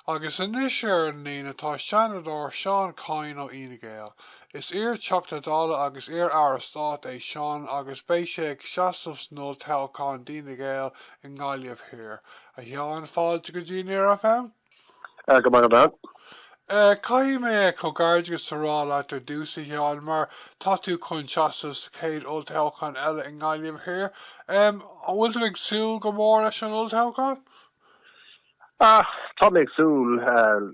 Agus anois ar an líne tá Seanadóir Seán Kyne ó Fhine Gael. Is iar-Theachta Dála agus iar-Aire Stáit é Seán agus beidh sé ag seasamh san olltoghchán d'Fhine Gael i nGaillimh Thiar. A Sheáin, fáilte go dtí Near FM. Go raibh maith agat. Caithfidh mé comhghairdeachas a rá leat ar dtús, a Sheáin, mar tá tú chun seasamh sa chéad olltoghchán eile i nGaillimh Thiar. An bhfuil tú ag súil go mór leis an olltoghchán? Á tá mé ag súil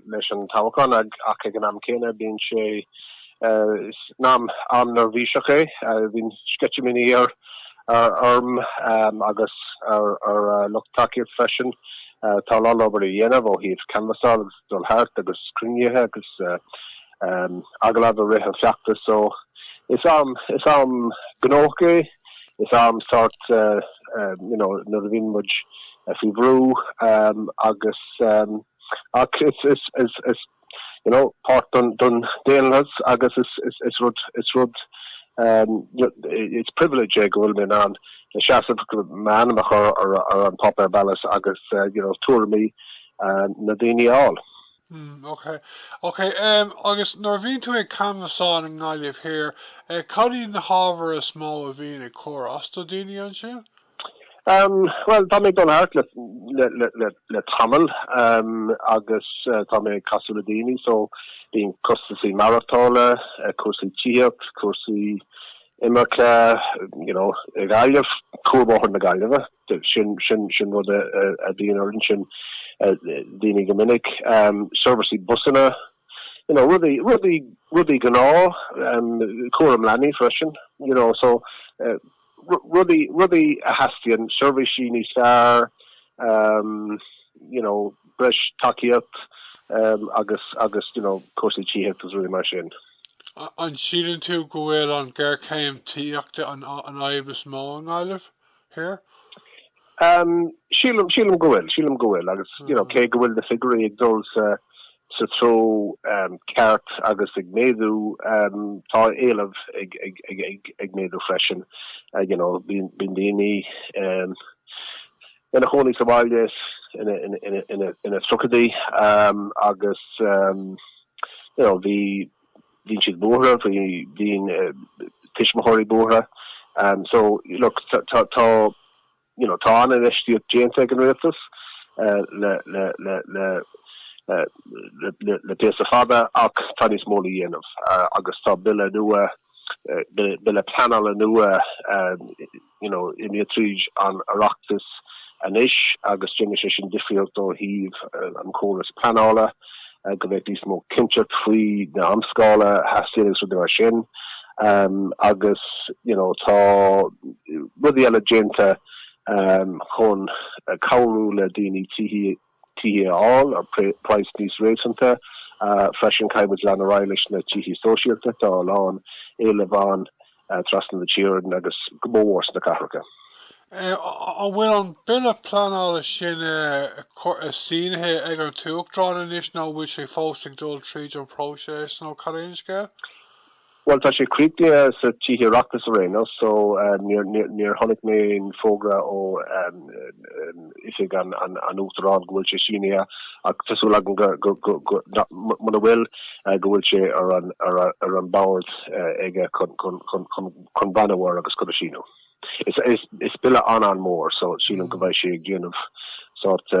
leis an toghchán ach ag an am céanna bíonn sé ina am neirbhíseach é. Bíonn sceitimíní ar orm agus ar ar lucht tacaíocht freisin. Tá a lán obair le déanamh ó thaobh canbhasáil agus dul thart agus cruinnithe agus agallaimh i rith an feachtais so is am is am gnóthach é. Is am sórt nuair a bhíonn muid faoi bhrú agus ach is páirt den daonlathas agus is rud is privilege é go bhfuil mé in ann seasamh m'ainm a chur ar an bpáipéar ballóide agus tuairimí na daoine a fháil. Hm, ok. Ok, em, agus nuair a bhíonn tú ag canbhasáil i nGaillimh Thiar, eh, cad iad na hábhair is mó a bhíonn ag cur as do daoine ansin? Em, bhuel, tá mé ag dul thart le, le, le, le tamall, em, agus, eh, tá mé ag casadh le daoine, so, bíonn costasaí maireachtála, eh, cúrsaí tithíocht, cúrsaí, imirce, you know, i nGaillimh, Cuarbhóthar na Gaillimhe, sin rud a bhíonn orainn sin, daoine go minic, seirbhísí busanna, you know, rudaí, rudaí gnáth, cúram leanaí freisin, you know, so, rudaí, rudaí a theastaíonn, seirbhísí níos fearr, you know, breis tacaíocht agus, agus, you know, cúrsaí tithíochta is rudaí mar sin. An síleann tú go bhfuil an ghéarchéim tithíochta an fhadhb is mó i nGaillimh Thiar? Sílim go bhfuil, sílim go bhfuil agus cé go bhfuil na figiúirí ag dul sa treo ceart agus ag méadú, tá éileamh ag méadú freisin. Bíonn daoine, ina chónaí sa bhaile ina tríochaidí agus you know bhí bíonn siad buartha bíonn tuismitheoirí buartha um, so look tá tá you know tá an-infheistíocht déanta ag an rialtas uh, le le le le uh, le píosa fada ach tá níos mó le déanamh uh, agus tá bille nua uh, bille pleanála nua um, Imithe tríd an Oireachtas anois agus déanfaidh sé sin difríocht ó thaobh an chórais pleanála, go mbeadh níos mó cinnteacht faoi na amscálaí a theastaíonn agus rudaí mar sin. Agus tá rudaí eile déanta chun cabhrú le daoine tithe tithe a fháil ar price níos réasúnta. Freisin, caithfimid leanacht ar aghaidh leis na tithe sóisialta. Tá a lán éilimh ann trasna na tíre agus go mórmhór sna cathracha. An bhfuil an bille pleanála sin sínithe ag an tUachtarán anois nó an bhfuil sé fós ag dul tríd an bpróiseas nó cad é an scéal? Bhuel, tá sé críochnaithe sna Tithe Oireachtais araon so níor chonaic mé aon fógra ó oifig an Uachtaráin go bhfuil sé sínithe ach tá súil agam muna bhfuil go bhfuil sé ar an mbord aige chun breathnú air agus chun é a síniú. Is bille an-an-mhór so sílim go mbeidh sé ag déanamh sórt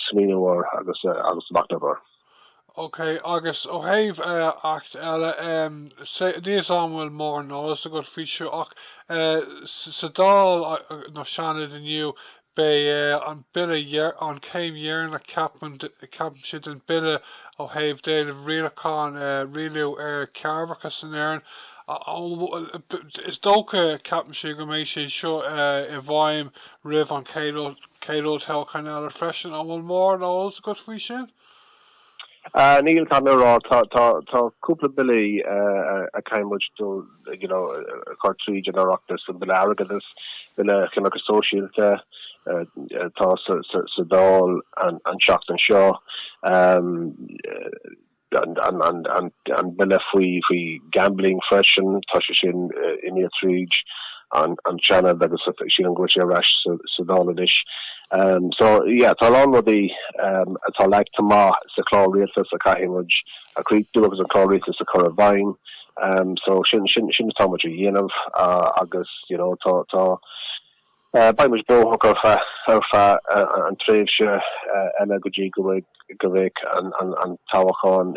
smaoineamh air agus machnamh air. OK, agus ó thaobh Acht eile, níl a fhios an bhfuil mórán eolas agat faoi seo, ach sa Dáil nó Seanad inniu, beidh an Bille an chéim dheireanach ceapaimse den Bille ó thaobh déanamh rialacháin rialú ar chearrbhachas in Éirinn. Is dócha ceapaimse go mbeidh sé seo i bhfeidhm roimh an chéad Olltoghchán eile freisin. An bhfuil mórán eolas agat faoi sin? Níl, caithfidh mé a rá. Tá cúpla billí a chaithfimid a chur tríd an Oireachtas, an Bille Airgeadais, Bille Coimirce Sóisialta atá sa Dáil an seachtain seo, an bille faoi gambling freisin, tá sé sin imithe tríd an Seanad agus sílim go bhfuil sé ar ais sa Dáil anois. So, yeah, tá a lán rudaí atá leagta amach sa Chlár Rialtas a chaithfidh muid a chríochnú agus an Chlár Rialtas a chur i bhfeidhm. So, sin, sin, sin atá muid a dhéanamh agus, you know, tá, tá, beidh muid gnóthach ar feadh, ar feadh an tréimhse eile go dtí go bhfuil, go mbeidh an toghchán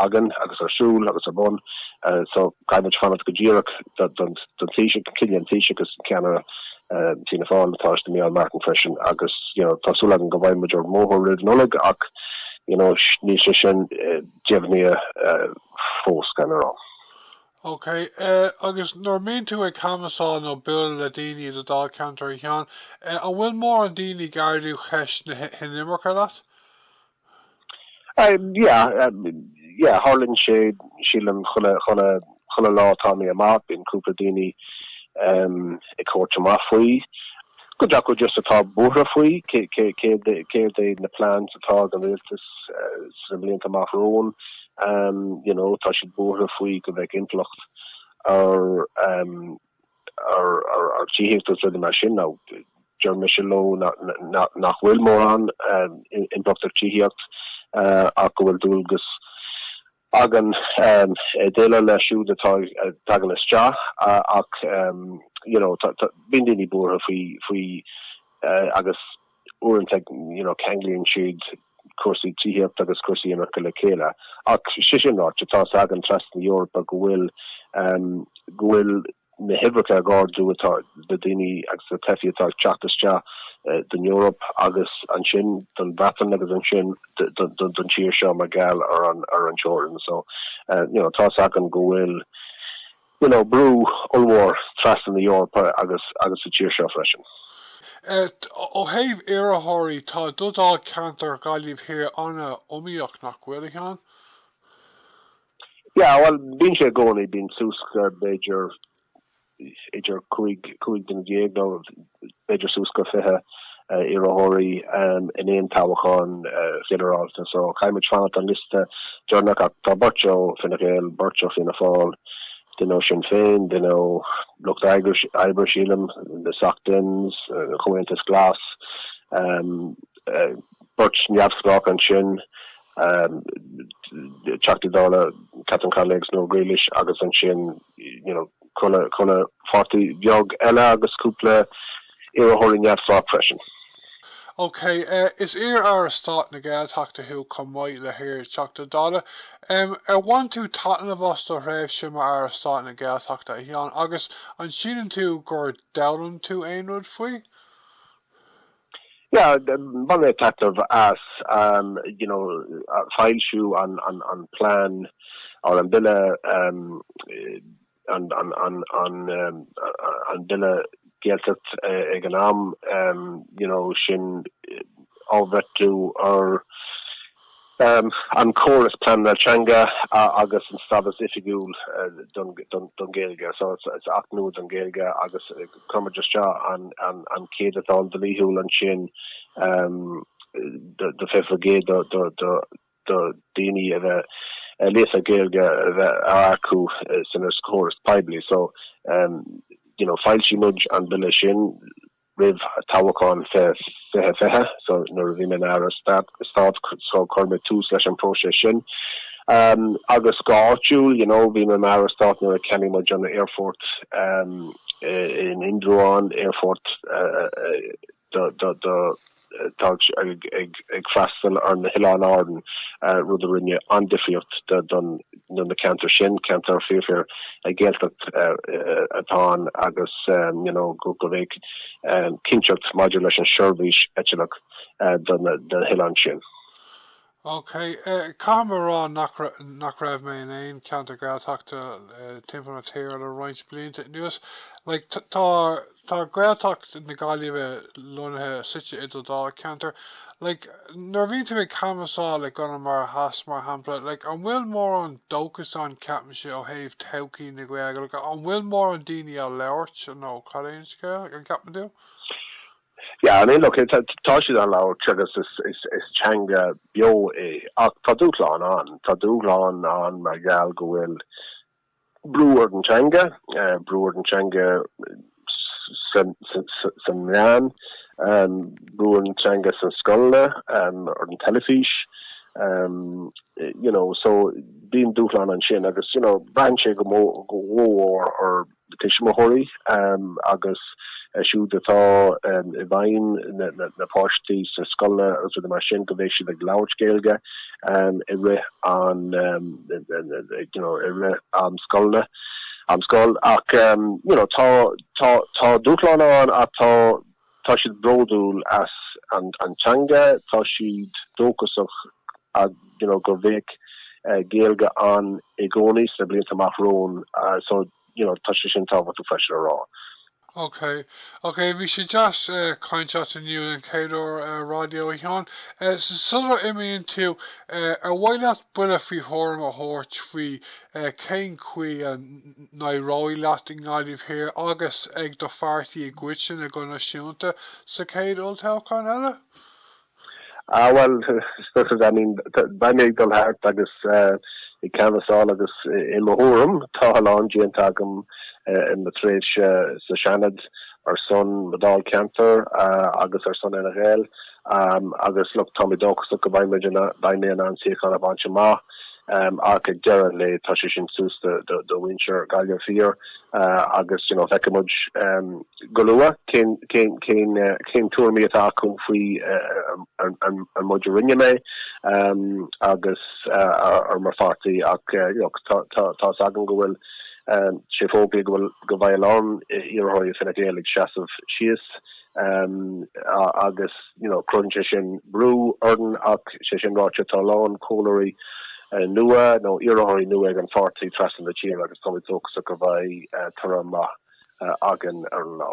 againn agus ar siúl agus ar bun so caithfimid fanacht go díreach don Taoiseach, cinneadh an Taoiseach agus an Ceannaire Fianna Fáil Tánaiste Micheál Martin freisin agus you know tá súil againn go mbeidh muid ar an mbóthar roimh Nollaig ach you know níl sé sin deimhnithe fós gan a rá. OK, agus nuair a bhíonn tú ag canbhasáil nó ag bualadh le daoine i do Dáilcheantar a Sheáin, an bhfuil mórán daoine ag ardú cheist na hinimirce leat? Yeah, yeah, tharlaíonn sé, sílim, chuile lá atá mé amuigh, bíonn cúpla daoine ag tabhairt amach faoi. Cuid acu just atá buartha faoi, céard é na plans atá ag an Rialtas sna blianta amach romhainn, you know, tá siad buartha faoi go mbeidh impleacht ar ar tithíocht agus rudaí mar sin. Now, deir mise leo nach bhfuil mórán impleacht ar tithíocht ach go bhfuil dualgas againn déileáil leis siúd atá ag teacht isteach ach you know tá tá bíonn daoine buartha faoi faoi agus uaireanta ag you know ceanglaíonn siad cúrsaí tithíocht agus cúrsaí imirce le chéile ach sé sin ráite tá a fhios againn trasna na Eorpa go bhfuil um, go bhfuil na huimhreacha ag ardú ó thaobh na daoine agus na teifigh atá ag teacht isteach don Eoraip agus ansin don Bhreatain agus ansin don tír seo mar gheall ar an ar an teorann so you know tá a fhios againn go bhfuil you know brú ollmhór trasna na Eorpa agus agus sa tír seo freisin. Ó thaobh iarrthóirí tá do Dháilcheantar Ghaillimh Thiar an-iomaíoch nach bhfuil, a Sheáin? Yeah, bhuel, bíonn sé i gcónaí, bíonn suas go, b'fhéidir, idir cúig, cúig déag nó, b'fhéidir, suas go fiche iarrthóirí in aon toghchán ghinearálta. So, caithfidh muid fanacht an liosta deireanach ach tá beirt ó Fine Gael, beirt ó Fianna Fáil, duine ó Sinn Féin, duine ó Lucht Oibre, sílim, na Soc Dems, an Comhaontas Glas, beirt neamhspleách ansin, Teachtaí Dála Catherine Connolly agus Noel Grealish agus ansin you know chuile pháirtí bheag eile agus cúpla iarrthóirí neamhspleách freisin. Ok, is iar-aire stáit na Gaeltachta thú chomh maith le hiar-Theachta Dála. Ar bhain tú taitneamh as do thréimhse mar aire stáit na Gaeltachta, a Sheáin, agus an síleann tú gur d'fhoghlaim tú aon rud faoi? Yeah, bhain mé taitneamh as, um, you know, foilsiú an, an, an plean, or an bille, um, an, an, an, an, um, an bille Gaeltacht ag an am, um, you know, sin, á bhreithniú ar, an córas pleanála teanga agus an stádas oifigiúil don Ghaeilge. So sin acht nua don Ghaeilge agus chuir muid isteach an céadatán dlíthiúil ansin do 20% do daoine a bheith líofa Gaeilge a bheith á earcú san córas poiblí. So you know d'fhoilsigh muid an bille sin Roimh toghchán 2020, so nuair a bhí mé mar Aire Stáit, so chuir mé tús leis an próiseas sin. Agus go háitiúil, you know, bhí mé mar Aire Stáit nuair a cheannaigh muid an aerfort in Indreabhán, aerfort do, do, do, atá ag freastal ar na hOileáin Árann, rud a rinne an-difríocht do na ceantair sin, ceantair fíor-fhíor Ghaeltacht atá ann agus you know go go mbeadh cinnteacht maidir leis an seirbhís eitilte do na hOileáin sin. Ok, caithfidh mé a rá nach raibh mé in aon cheantar Gaeltachta timpeall na tíre le roinnt blianta anuas. Like, tá Gaeltacht na Gaillimhe lonnaithe, suite i do Dháilcheantar. Like, nuair a bhíonn tú ag canbhasáil i gConamara Theas, mar shampla, like, an bhfuil mórán dóchas ann, an gceapann tusa, ó thaobh todhchaí na Gaeilge? Like, an bhfuil mórán daoine á labhairt nó cad é an scéal, an gceapann tú? Yeah, I mean, look, tá tá siad á labhairt agus is is is teanga beo é ach tá dúshláin ann, tá dúshláin ann mar gheall go bhfuil brú ar an teanga, eh, brú ar an teanga san san- san- san meán, em, brú ar an teanga san scoileanna, em, ar an teilifís, em, eh, you know, so bíonn dúshláin ansin agus, you know, braitheann sé go mó- go mhór ar tuismitheoirí agus siúd atá i bhfeighil na páistí sna scoileanna agus rudaí mar sin go bheidh siad ag labhairt Gaeilge i rith an you know i rith am scoileanna am scoil ach you know tá tá tá dúshlán ann ach tá Tá siad bródúil as an teanga, tá siad dóchasach you know go bheadh Gaeilge ann i gcónaí sna blianta amach romhainn so you know tá sé sin tábhachtach freisin a rá. Ok, ok, bhí sé deas caint leat inniu den chéad uair ar an raidió a Sheáin. Sular imíonn tú, ar mhaith leat buille faoi thuairim a thabhairt faoi cén chaoi a n-éireoidh leat i nGaillimh Thiar agus ag do pháirtí i gcoitinne go náisiúnta sa chéad olltoghchán eile? Ah bhuel, I mean, beidh mé ag dul thart agus ag canbhasáil agus i mo thuairim, tá a lán déanta agam i mo thréimhse sa Seanad ar son mo Dháilcheantair agus ar son Fhine Gael agus look, tá mé dóchasach go mbeidh mé in ann suíochán a bhaint amach. ach ag deireadh an lae tá sé sin suas do mhuintir Ghaillimh Thiar agus feicfidh muid go luath cé na tuairimí atá acu faoin méid a rinne mé agus ar mo pháirtí ach tá's agam go bhfuil sé fógraithe go bhfuil go bhfuil a lán iarrthóirí Fine Gael ag seasamh síos agus you know cruthaíonn sé sin brú orainn ach sé sin ráite tá a lán comhairleoirí nua nó iarrthóirí nua ag an pháirtí trasna na tíre agus táimid dóchasach go mbeidh toradh maith againn ar an lá.